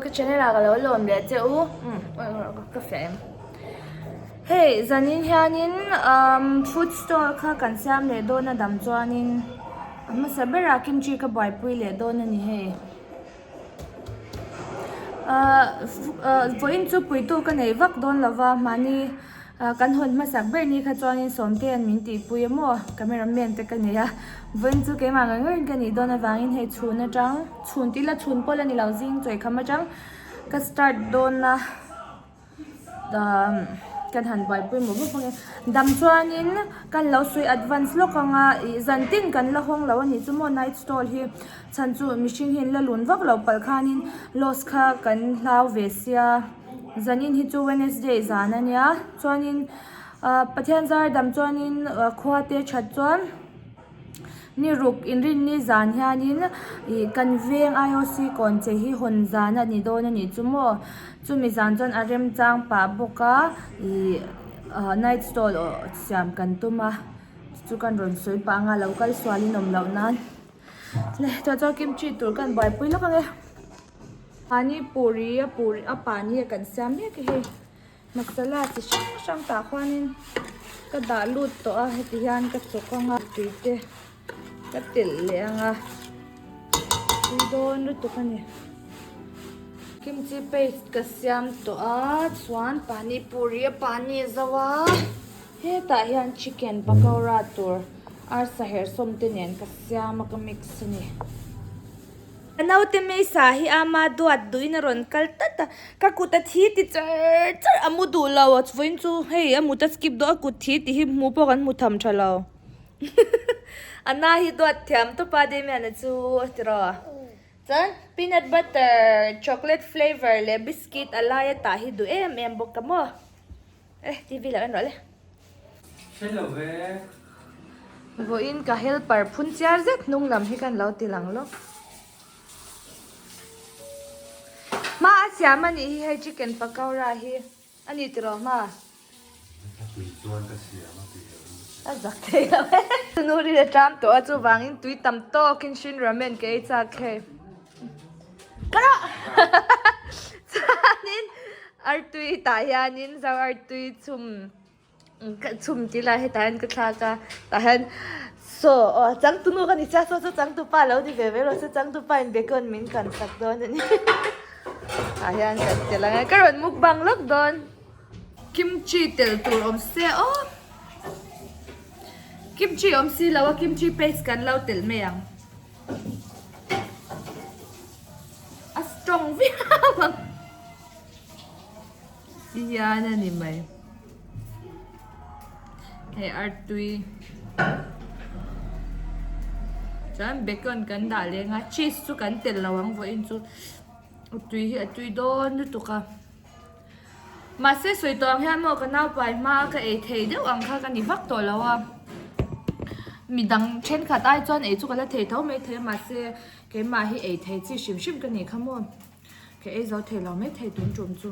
Ka channel ah ka lo lawm leh che u ka fiah em hei zan in hian in food store kha kan siam leh dawn a dam chuan in a hmasa ber ah kimchi ka buai pui leh dawn a ni hei vawiin chu puitu ka nei vak dawn lo va mahni. Kan hawn hmasak ber ni kha chuanin sawmte an min tihpui a maw? Camera man te ka nei a, vawiin chu keimah ngawih ngawih in ka nih dawn avangin hei chhun atang, chhun tih ila chhun pawl a ni lo, zing chawi kham atang ka start dawn a, kan han buaipui mawh vak vak in dam chuanin kan lo sawi advance lawk anga ih zantin kan la hawng lo a nih chu maw night stall hi. Chhan chu mihring hi la lun vak lo palh khanin loss kha kan hlau ve sia. Zanin hi chu Wednesday zan a nia chuanin Pathian zar dam chuanin khua te that chuan ni ruk in rin ni zan hianin ih kan veng IOC kawn che hi hawn zan a ni dawn a nih chu maw. Chumi zan chuan a remchang pah bawk a ih ahh night stall siam kan tum a chu kan rawn sawi pah anga lo kal sualin awm loh nan. Tah chuan kimchi tur kan buaipui lawk ang e. Pani puri a puri a pani a kan siam mek e hei. Masala chi hrang hrang tah khuanin ka dah lut tawh a. Heti hian ka chawk ang a, tui te ka telh leh ang a. Tui dawn lutuk a ni. Kimchi paste ka siam tawh a chuan pani puri a pani zauh a. Hetah hian chicken pakora tur arsa herh sawm te nen ka siam a ka mix a ni. Ka naute Mesa hi ama duat duhin a rawn kal tlat a, ka kut a thi ti char char a mu duh lo, vawiin chu hei a mut a skip dawn a kut thi ti hi hmuh pawh kan hmu tham tha lo. Ana hi duat thiam tawp a Damian-a chu a ti rawh a. Chuan peanut butter chocolate flavour leh biscuit a laia tah hi duh em em bawk a maw. Eh TV lah kan rawh le. Hre lo ve. Vawiin ka helper phun chiar zet hnung lam hi kan lo til ang lawk. Hma a siam a nih hi hei chicken pakora hi a ni tiraw hma? Ka tui chuan ka siam a tih loh hi. A zak thei lo e. Tunu ri le tlam tawh a chuvangin tui tam tawkin hrinramen ka ei chak hei. chuanin artui tah hianin zau artui chhum ka chhum ti lah hetah hian ka thlak a tah hian so aw changtunu ka ni sia saw chu changtu pa lo ni ve ve erawh chu changtu pa in background min kan sak dawn a ni tah hian kan tel angai ka rawn mukbang lawk dawn kimchi tel tur awm se aw kimchi awm si lo a kimchi paste kan lo tel mai ang. a strong viau ang ti hian a ni mai he artui chuan bacon kan dah leng a cheese chu kan tel lo ang vawiin chu a tui hi a tui dawn lutuk a. Mahse sawi tawh ang hian maw ka naupai hma a ka ei thei deuh ang kha ka ni vak tawh lo a, mi dang thenkhat ai chuan ei chu ka la thei tho mai thei a mahse keimah hi ei thei chi hrim hrim ka ni kha maw, ka ei zo thei lo mai thei tun tum chu.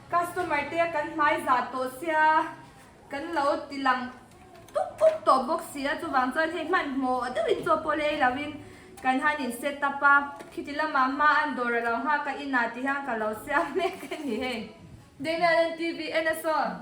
Customer te kan hmai zah tawh sia kan lo ti lang puk puk tawh bawk sia, chuvang chuan hei hmanhmawh deuhin chaw pawh lei lovin kan han in set up a, khiti lamah hma an dawr alo nghak a inah ti hian ka lo siam mek a ni hei. Damian and TV, Enna saw.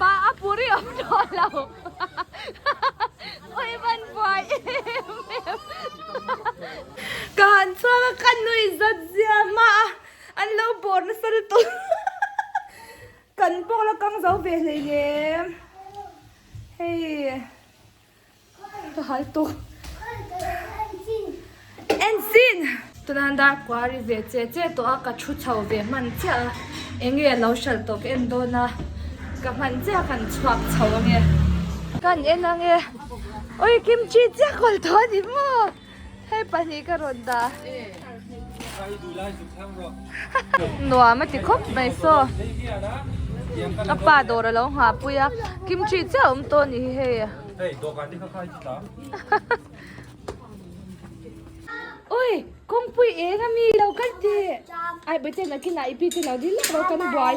pa a puri awm tawh lo ui van buai em em ka han chuak a ka nui zat zia mah a an lo bawr nasal tawh kan pawh la kang zo ve hlei lem hei Ka hal tuk. Ensin! Tunan dar kuari ve che che tawh a, ka thu chho ve hman chiah a. Enge a lo hralh tawh ka en dawn a, ka hman chiah a kan chhuak chho ang e. Kan en ang e. Ui, kimchi chiah kawl tawh a ni maw? Hei pahnih ka rawn dah. Nuam a ti khawp mai saw. Ka pa dawr a lo nghahpui a. Kimchi chiah a awm tawh a ni hi hei. Hei, dawhkan te kha khai chi ta. Ui, kawngpui eng a mi lo kan tih. Ai, Bawihtei nakin ah i pi tel lo ding lak ro kan buai.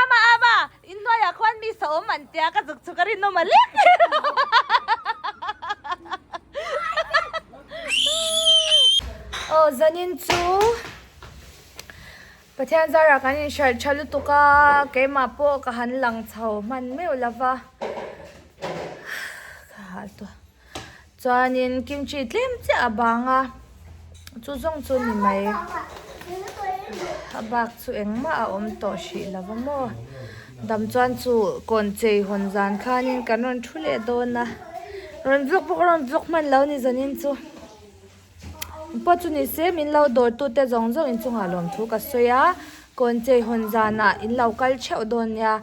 ama ama in noi ah khuan mi sa awm an tia ka zuk chu ka rinawm alek oh zanin chu pathian zar ah kan in hralh tha lutuk a keimah pawh ka han lang chho hman meuh lova ka hal tawh. Chuanin kimchi tlem chiah a bang a, chu zawng chu ni mai a bak chu engmah a awm tawh hrih lo va maw. Dam chuan chu kawn chei hawn zan khanin kan rawn thu leh dawn a, rawn vlog bawk rawn vlog hman lo ni zawnin chu mi pawh chu ni se min lo dawr tu te zawng zawng in chungah lawm thu ka sawi a, kawn chei hawn zanah in lo kal theuh dawn nia.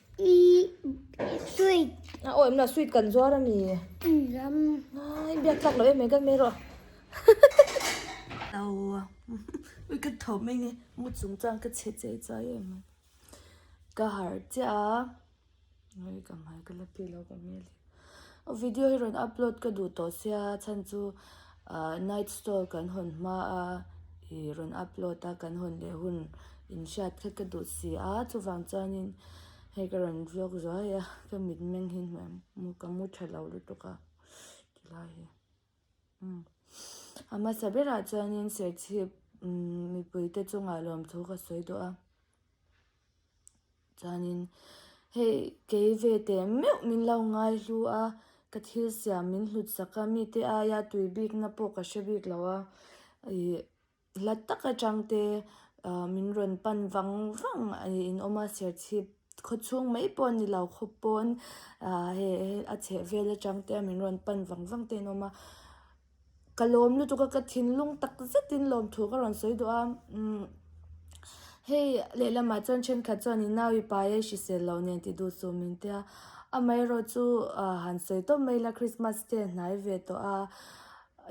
sweet a awm la sweet kan zuar a ni ai biak tak loh em mai kan meh erawh a aua ui ka tho mai nge mu chung chuan ka chhe chei chuai em mai ka harh chiah a ui ka hmai ka la pi lo ka mial hi. Video hi rawn upload ka duh tawh sia chhan chu ahh night stall kan hawn hma a i rawn upload a kan hawn leh hun in hriat kha ka duh si a chuvang chuanin hei ka rawn vlog zuai a ka mit meng hi hmuh ang ka mu tha lo lutuk a ti lai hi umm a hmasa berah chuanin serthlip umm mipuite chungah lawmthu ka sawi duh a. Chuanin, Hei, kei ve teh meuh min lo ngai hlu a, ka thil siam min hlut sak a, mite aia tui bikna pawh ka hre bik lo a, ih, hla tak atang te min rawn pan vang vang i inawm a, serchhip khawchhung mai pawh a ni lo, khaw pawn, ah, hei a chheh vel atang te min rawn pan vang vang te a awm a. Ka lawm lutuk a, ka thinlung tak zetin lawmthu ka rawn sawi duh a, umm hei lehlam ah chuan thenkhat chuan i nau i pai a i hrisel loh nen ti duh suh min tia, amaherawh chu ah han sawi tawp mai ila Christmas te a hnai ve tawh a,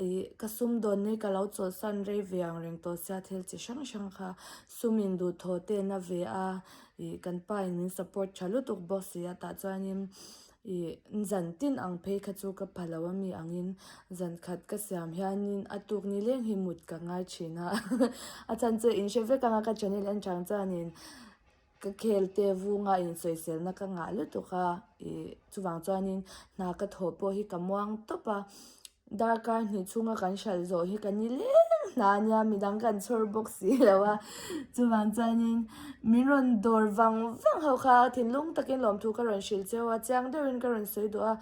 i ka sum dawn hi ka lo chawlhsan rei ve ang reng tawh sia thil chi hrang hrang kha sum in duh thaw te na ve a, i kan pa in min support tha lutuk bawk si a tah chuan in I zan tin ang phei kha chu ka pa lo a mi angin zan khat ka siam hianin a tuk ni leng hi mut ka ngai thin a, a chhan chu in hre vek anga ka channel en chang chuanin ka khel te vunga in sawiselna ka ngah lutuk a, i chuvang chuanin hna ka thawh pawh hi ka muang tawp a. Darkar hnih chunga kan hralh zawh hi ka ni lem hna a nia, midang kan chhawr bawk si lo a, chuvang chuanin min rawn dawr vang vang ho kha, thinlung takin lawmthu ka rawn hrilh cheu a, chiang deuhin ka rawn sawi duh a,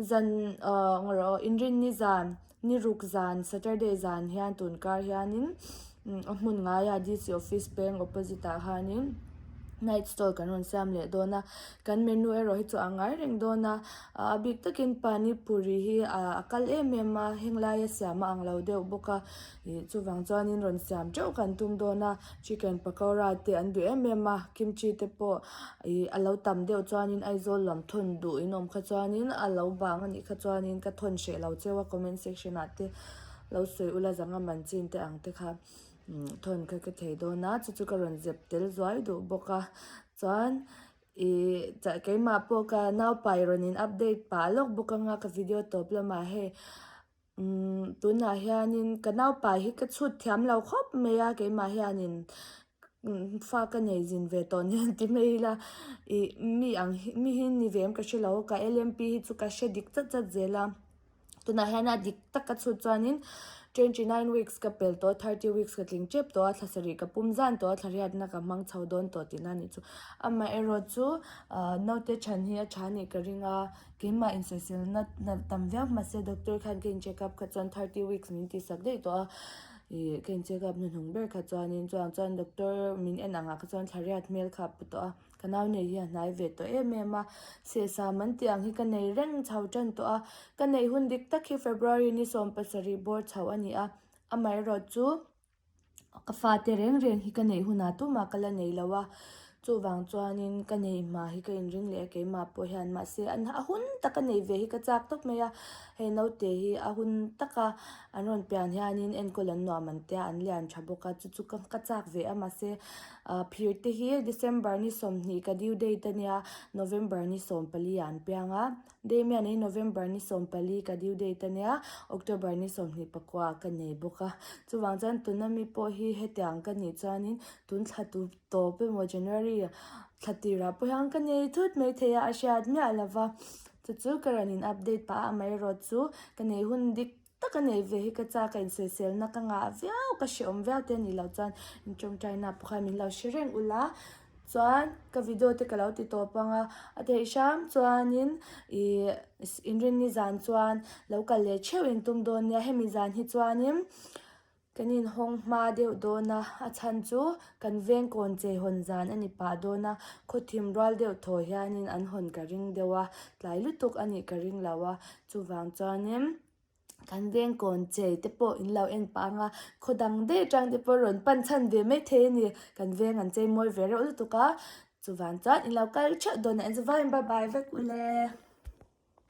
zan engawrawh inrin ni zan, niruk zan, Saturday zan hian tun kar hianin. A hmun ngaiah DC office peng opposite ah hianin night stall kan rawn siam leh dawn a kan menu erawh hi chu a ngai reng dawn a ah a bik takin pani puri hi ah a kal em em a heng laia siam a ang lo deuh bawk a ih chuvang chuanin rawn siam teuh kan tum dawn a chicken pakora te an duh em em a kimchi te pawh ih a lo tam deuh chuanin Aizawl lam thawn duh in awm kha chuanin a lo bang a nih kha chuanin ka thawn hreh lo cheu a comment section ah te. Lo sawi ula zanga man chin te ang te kha thawn kha ka thei dawn a chu chu ka rawn zep tel zuai duh bawk a chuan ih keimah pawh ka naupai rawn in update pah lawk bawk ang a ka video tawp la mahei umm tunah hianin ka naupa hi ka chhut thiam lo khawp mai a keimah hianin fa ka nei zin ve tawh ni an ti mai ila ih mi ang hi mi hi ni ve em ka hre lo ka lmp hi chu ka hre dik chat chat zel a. Tunah hian a dik tak ka chhut chuanin twenty nine weeks ka pel tawh a thirty weeks ka tling tep tawh a thla sarih ka pum zan tawh a thla hriatna ka hmang chho dawn tawh tihna a nih chu amaherawh chu ahh naute chhan hi a tha anih ka ring a keimah insawiselna nalh tam viau mahse doctor khan ka incheck up kha chuan thirty weeks min tihsak daih tawh a ih ka incheck up hnuhnung ber kha chuanin chutah chuan doctor min en angah kha chuan thlariat hmel kha a pu tawh a. Ka nau nei hi a hnai ve tawh em em a, sehsam an tih ang hi ka nei reng chho ṭan tawh a. Ka nei hun dik tak hi February ni sawm pasarih bawr chho a ni a, amaherawhchu chu ka fate reng reng hi ka nei hunah tumah ka la nei lo a, chuvang chuanin ka nei hma hi ka inring leh a keimah pawh hian. Mahse a hun tak a nei ve hi ka chak tawp mai a, hei naute hi a hun tak a, an rawn pian hianin enkawl an nuam an tia an lian ṭha bawk a, chu chu ka chak ve a mahse. Aa, phir te hi December ni sawmhnih ka due date a nia, November ni sawmpali ah an piang a. Damian i November ni sawmpali ka due date a nia, October ni sawmhnih pakua ah ka nei bawk a. Chuvang chuan tuna mi pawh hi hetiang ang ka nih chuanin tun thla tu tawp emaw January thla tirah pawh hian ka nei thut mai thei a, a hriat miah lova. Chu chu ka rawn in update pah a amaherawhchu ka nei hun dik. tak a nei ve hi ka chak a inselselna ka ngah viau ka hrehawm viau te ni loh chuan in tawngtaina pawh khan min lo hre reng ulh a chuan ka video te ka lo ti tawp ang a a theih hram chuanin ih in rinni zan chuan lo kal leh theuhin tum dawn nia hemi zan hi chuanin. Kan inhawng hma deuh dawn a, a chhan chu kan veng kawn chei hawn zan a ni pah dawn a, khawthim rual deuh thaw hianin an hawn ka ring deuh a, tlai lutuk a nih ka ring lo a, chuvang chuanin kan veng kawn chei te pawh in lo en pah ang a, khaw dang daih atang te pawh rawn pan chhan ve mai thei a ni, kan veng an chei mawi ve reuh lutuk a, chuvang chuan in lo kal ṭheuh dawn a, enzo vai in bye bye vek u le.